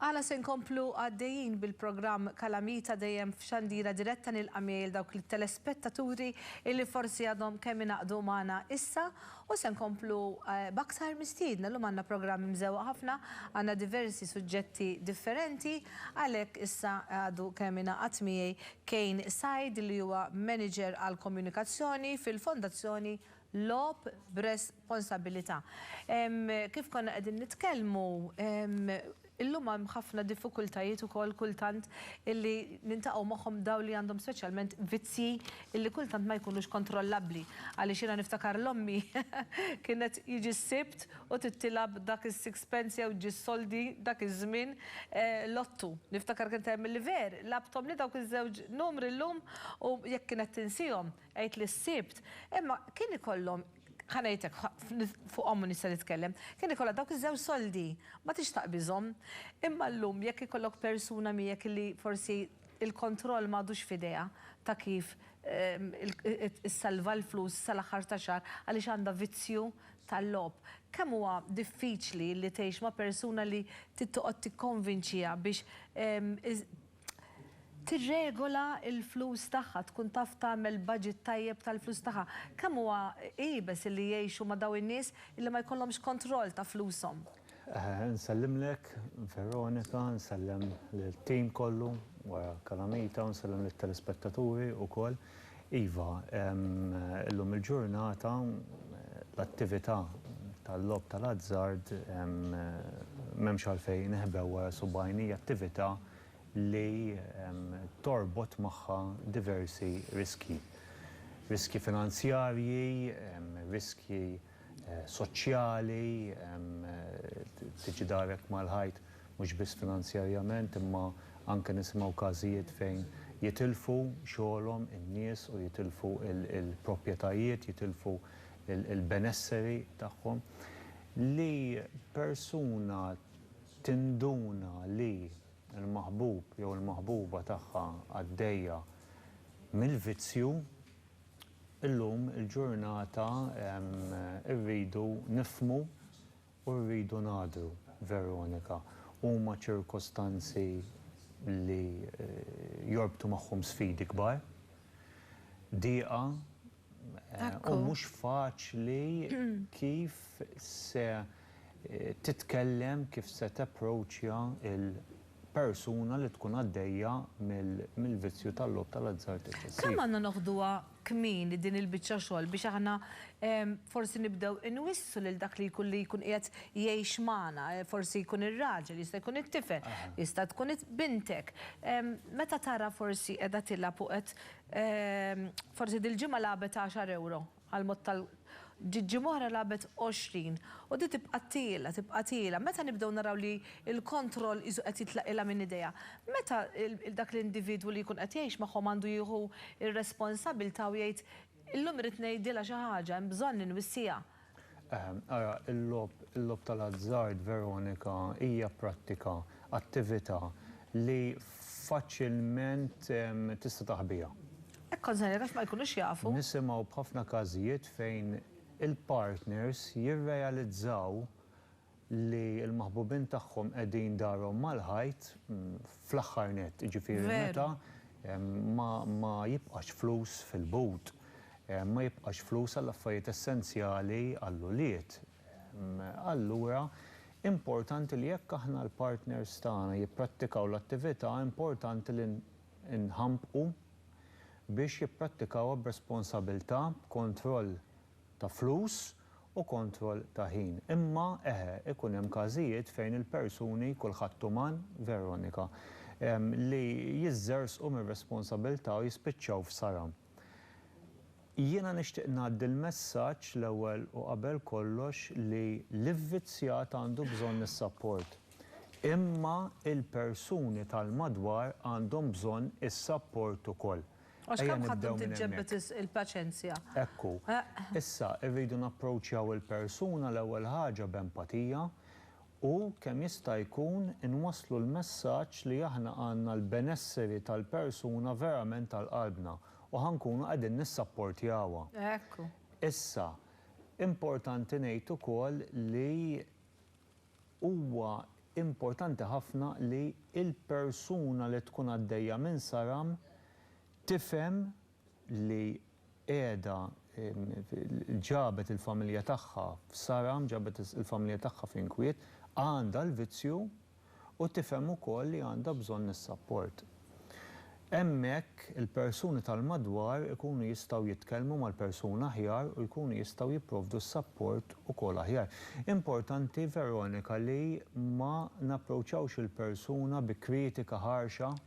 Għala se nkomplu għaddejjin bil-programm Kalamita dejjem f'xandira diretta nilqa' miegħi dawk it-telespettaturi illi forsi għadhom kemm inaqdu magħna issa U se nkomplu b'aktar mistiedna. Illum għandna programm imżewwaq ħafna, għandna diversi suġġetti differenti, għalhekk issa għadu kemm ingħaqad miegħi Kane Said li huwa Manager għall-Komunikazzjoni fil-Fondazzjoni Logħob b'Responsabbilità. Kif konna qegħdin nitkellmu, Illum hemm ħafna diffikultajiet ukoll kultant illi niltaqgħu magħhom dawn li għandhom speċjalment vizzji illi kultant ma jkunux kontrollabbli. Għaliex jiena niftakar l-ommi kienet jiġi s-Sibt u tittilgħab dak is-sixpence jew ġġi s-soldi dak iż-żmien lottu. Niftakar kienet tgħid milli ver, lagħbthomli dawk iż-żewġ numri llum u jekk kienet tinsihom għidli s-Sibt. Imma kien ikollhom Ħa ngħidlek, fuqhom nista' nitkellem. Kien ikollha dawk iż-żewġ soldi, ma tridx taqbiżhom. Imma llum jekk ikollok persuna miegħek illi forsi l-kontroll m'għadux f'idejha ta' kif issalva l-flus sal-aħħar ta' xahar għaliex għandha vizzju tal-logħob, kemm huwa diffiċli li tgħix ma' persuna li trid toqgħod tikkonvinċiha biex tirregola l-flus tagħha, tkun taf tagħmel budget tajjeb tal-flus tagħha. Kemm huwa iebes illi jgħixu ma' dawn in-nies illi ma jkollhomx kontroll ta' flushom. Nsellimlek Veronika, nsellem lit-team kollu wara Calamita u nsellem lit-telespettaturi wkoll. Iva, illum il-ġurnata l-attività tal-logħob tal-azzard m'hemmx għalfejn neħbew wara subgħajn hija attività li torbot magħha diversi riskji. Riskji finanzjarji, riskji soċjali, tiġi direct mal-ħajt mhux biss finanzjarjament imma anke nisimgħu każijiet fejn jitilfu xogħolhom in-nies u jitilfu l-proprjetajiet, jitilfu l-benesseri tagħhom. Li persuna tinduna li l-maħbub jew il-maħbuba tagħha għaddejja mill-vizzju, Illum il-ġurnata rridu nifhmu u rridu ngħadru, Veronika. Huma ċirkostanzi li jorbtu magħhom sfidi kbar, dieqa u mhux faċli kif se titkellem, kif se tapproachja l-. persuna li tkun għaddejja mill-vizzju tal-logħob tal-azzard eċċessiv. Kemm għandna noħduha kmieni din il-biċċa xogħol biex aħna forsi nibdew inwissu lil dak li jkun li jkun qiegħed jgħix magħna, forsi jkun ir-raġel, jista' jkun it-tifel, jista' tkun bintek. Meta tara forsi qiegħda tilgħab u qed forsi dil-ġimgħa lagħbet għaxar ewro, Għall-mod tal. Ġiġi Mohra lagħbet 20 u din tibqa' tqiela, tibqa' tqiela. Meta nibdew naraw li l-kontroll qisu qed jitlaqilha minn idejha. Meta dak l-individwu li jkun qed jgħix magħhom għandu jieħu r-responsabilità u jgħid, illum irrid ngħidilha xi ħaġa, hemm bżonn li nwissiha. Ara, il-logħob, il-logħob tal-azzard, Veronika, hija prattika, attività li faċilment tista' taħbiha. Hekk konsegna għax ma jkunux jafu. Nisimgħu b'ħafna każijiet fejn il-partners jirrealizzaw li l-maħbubin tagħhom qegħdin darhom mal-ħajt fl-aħħar nett, jiġifieri meta ma jibqax flus fil-but, ma jibqax flus għall-affarijiet essenzjali għall-ulied. Allura importanti li jekk aħna l-partners tagħna jipprattikaw l-attività importanti li inħanbqu biex jipprattikawha b'responsabilità, b'kontroll ta' flus u kontroll ta' ħin. Imma, eħe, ikun hemm każijiet fejn il-persuni, kulħadd uman, Veronika, li jiżżerżqu mir-responsabilità u jispiċċaw f'sara. Jiena nixtieq ngħaddi l-messaġġ l-ewwel u qabel kollox li l-ivvizzjat għandu bżonn is-sapport. Imma il-persuni tal-madwar għandhom bżonn is-sapport ukoll. Għax kemm ħadd tkun tiġġebbed il-paċenzja. Hekk hu. Issa, irridu napproċċjaw il-persuna l-ewwel ħaġa b'empatija u kemm jista' jkun inwasslu l-messaġġ li aħna għandna l-benesseri tal-persuna verament għal qalbna u ħa nkunu qegħdin nissapportjawha. Hekk hu. Issa, importanti ngħid ukoll li huwa importanti ħafna li l-persuna li tkun għaddejja minn saram tifhem li qiegħda ġabet il-familja tagħha f'saram, ġabet il-familja tagħha f'inkwiet, għandha l-vizzju u tifhem ukoll li għandha bżonn is-sapport. Hemmhekk il-persuni tal-madwar ikunu jistgħu jitkellmu mal-persuna aħjar u jkunu jistgħu jipprovdu s-sapport ukoll aħjar. Importanti, Veronika, li ma napproċċawx il-persuna bi kritika ħarxa.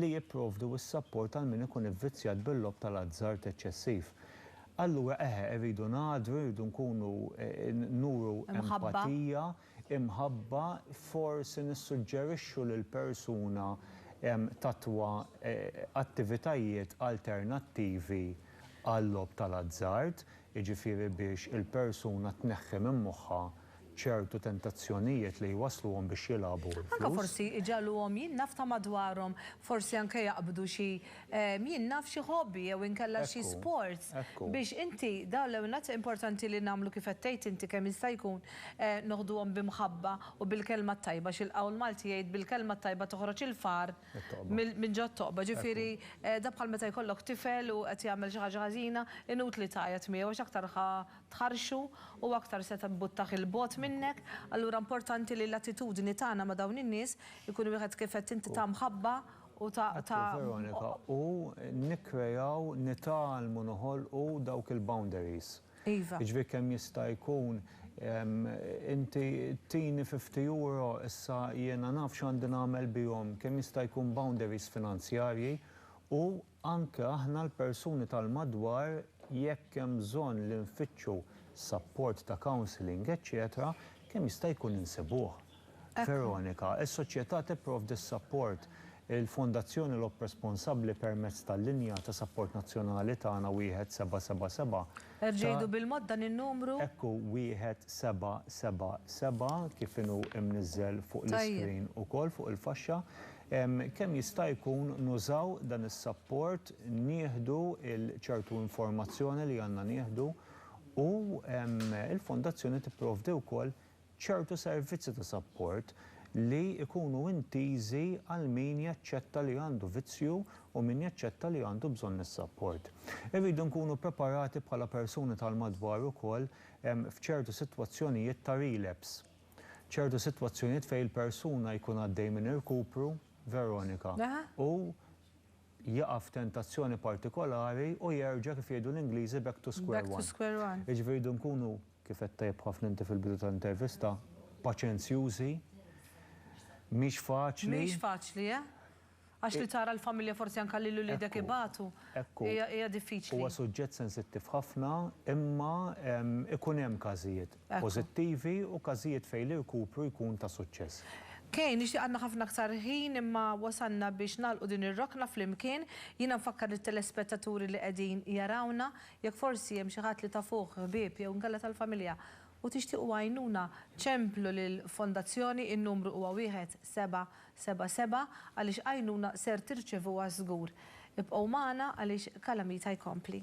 li jipprovdu s-sapport għal min ikun ivvizzjat bil-logħob tal-azzard eċċessiv. Allura eħe, irridu ngħadru, irridu nkunu nuru empatija, imħabba, forsi nissuġġerixxu lil persuna tattwa attivitajiet alternattivi għal-logħob tal-azzard, jiġifieri biex il-persuna tneħħi minn moħħha ċertu tentazzjonijiet li jwassluhom biex jilagħbu l-flus. Anke forsi iġagħluhom jien naf ta' madwarhom, forsi anke jaqbdu xi jien naf xi hobby jew inkella xi sport biex inti dawn l-ewwel importanti li nagħmlu kif qed tgħid inti kemm jista' jkun noħduhom bi mħabba u bil-kelma t-tajba xi l-qawl Malti jgħid bil-kelma t-tajba toħroġ il-far minn ġo t-toqba ġifieri dak bħal meta jkollok tifel u qed jagħmel xi ħaġa ħażina inutli tgħajjat miegħu għax aktar ħa tħarrxu, hu aktar se tbuttah 'il bogħod minnek. Allura importanti li l-attitudni tagħna ma' dawn in-nies ikun wieħed kif għedt inti ta' mħabba u ta'. Għattu Veronika, u nikkreaw, nitgħallmu noħolqu dawk il-boundaries. Iva. Jiġifieri kemm jista' jkun inti tini fifty euro issa jiena naf x'għandi nagħmel bihom, kemm jista' jkun boundaries finanzjarji u. Anke aħna l-persuni tal-madwar jekk hemm bżonn li nfittxu sapport ta' counselling eċċetera kemm jista' jkun insibuh. Veronika, Is-Soċjetà tipprovdi s-sapport. Il-Fondazzjoni Lob responsabbli permezz tal-linja ta' sapport nazzjonali tagħna wieħed seba' seba' seba' ta' Żidu bil-mod dan in-numru. Hekk hu, wieħed seba' seba' seba' kif inhu imniżżel fuq l-iscreen ukoll fuq il-faxxa. Kemm jista' jkun nużaw dan is-sapport, nieħdu l-ċertu informazzjoni li għandna nieħdu u l-Fondazzjoni tipprovdi wkoll ċertu servizzi ta' sapport li jkunu intiżi għal min jaċċetta li għandu vizzju u min jaċċetta li għandu bżonn is-sapport. Irridu nkunu ppreparati bħala persuni tal-madwar ukoll f'ċertu sitwazzjonijiet ta' relapse. Ċertu sitwazzjonijiet fejn il-persuna jkun għaddej minn irkupru, Veronika, u jaqa' f'tentazzjoni partikolari u jerġa' kif jgħidu l-Ingliżi back to square one. Jiġifieri rridu nkunu, kif għedt tajjeb ħafna inti fil-bidu tal-intervista, paċenzjużi, mhix faċli. Mhix faċli, eh! Għax li tara l-familja forsi anke lil uliedek ibatu hija diffiċli. Huwa suġġett sensittiv ħafna imma ikun hemm każijiet pożittivi u każijiet fejn l-irkupru jkun ta' suċċess. Kay, nixtieq għandna ħafna aktar ħin imma wasalna biex nagħlqu din ir-rokna flimkien. Jiena nfakkar lit-telespettaturi li qegħdin jarawna, jekk forsi hemm xi ħadd li tafuh, ħbieb jew inkella tal-familja u tixtiequ għajnuna, ċemplu lill-Fondazzjoni, in-numru huwa wieħed seba' Seba' seba' għaliex għajnuna ser tirċevuha żgur. Ibqgħu magħna għaliex Calamita jkompli.